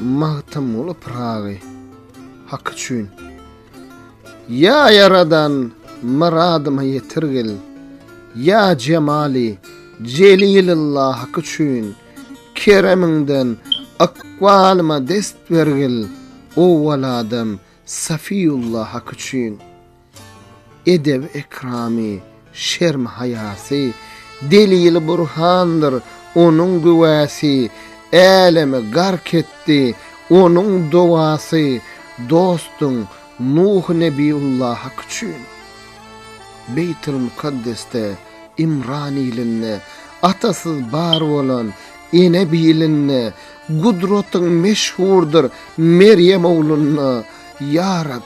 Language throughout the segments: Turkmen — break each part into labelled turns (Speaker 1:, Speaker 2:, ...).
Speaker 1: Magtymguly Pyragy Hak üçin Ýa Ýaradan myradyma ýetirgil Ýa Jemali Jelililla Hak üçin Keremiňden ykbalyma dest bergil Owwaladam Safiýulla Hak üçin. Edebi-ekramy, şerm-haýasy, delili burhandyr onuň güwäsi, Älemi gark etdi onuň dowasy, Dostuň Nuh Nebiullahak üçin. Beýtilmukaddesde, Imran ilinde, Atasyz bar bolan ene bilinde, Gudratyň meşhurdyr Merýem oglunda, Ýa Rab!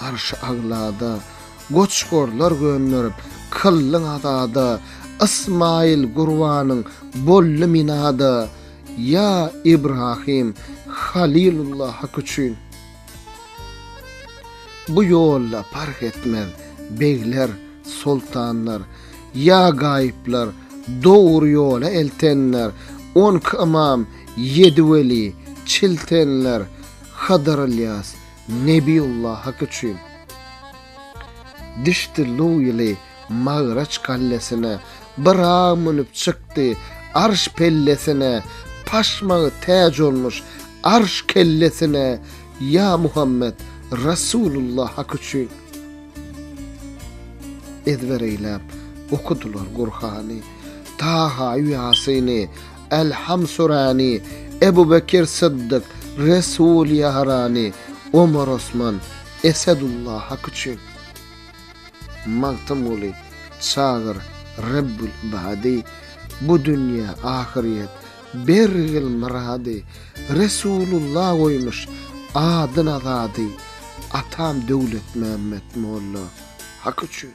Speaker 1: Arşy Aglada goç-gorlar gönderip, kyllyň azada, Ysmaýyl gurbanyň boldy minada, Ýa Ibrahym, Halylulla Hak üçin. Bu ýolda parh etmez, begler, soltanlar, Ýa gaýyplar, dogry ýola eltenler, On iki ymam, ýedi weli, çiltenler, Hydyr-Ylýas, Nebiullah hak üçin düşdi Luwili Magraç gallesine Byrag münüp çykdy Arş pellesine Paşmagy täç olmuş Arş kellesine Ýa Muhammet Rasulullah hak üçin Ezber eýläp okudylar Gurhany Taha-ýu Ýasyny Älham Surany, Ebu Bekir Syddyk, Resul Ýarany, Omar Osman, Esedullah Hak üçin, Magtymguly, Çagyr, Rebbül Ibady, Bu dünýe, ahyryýet, bergil myrady, Resulullah goýmuş adyn azady, Atam Döwletmämmet molla Hak üçin.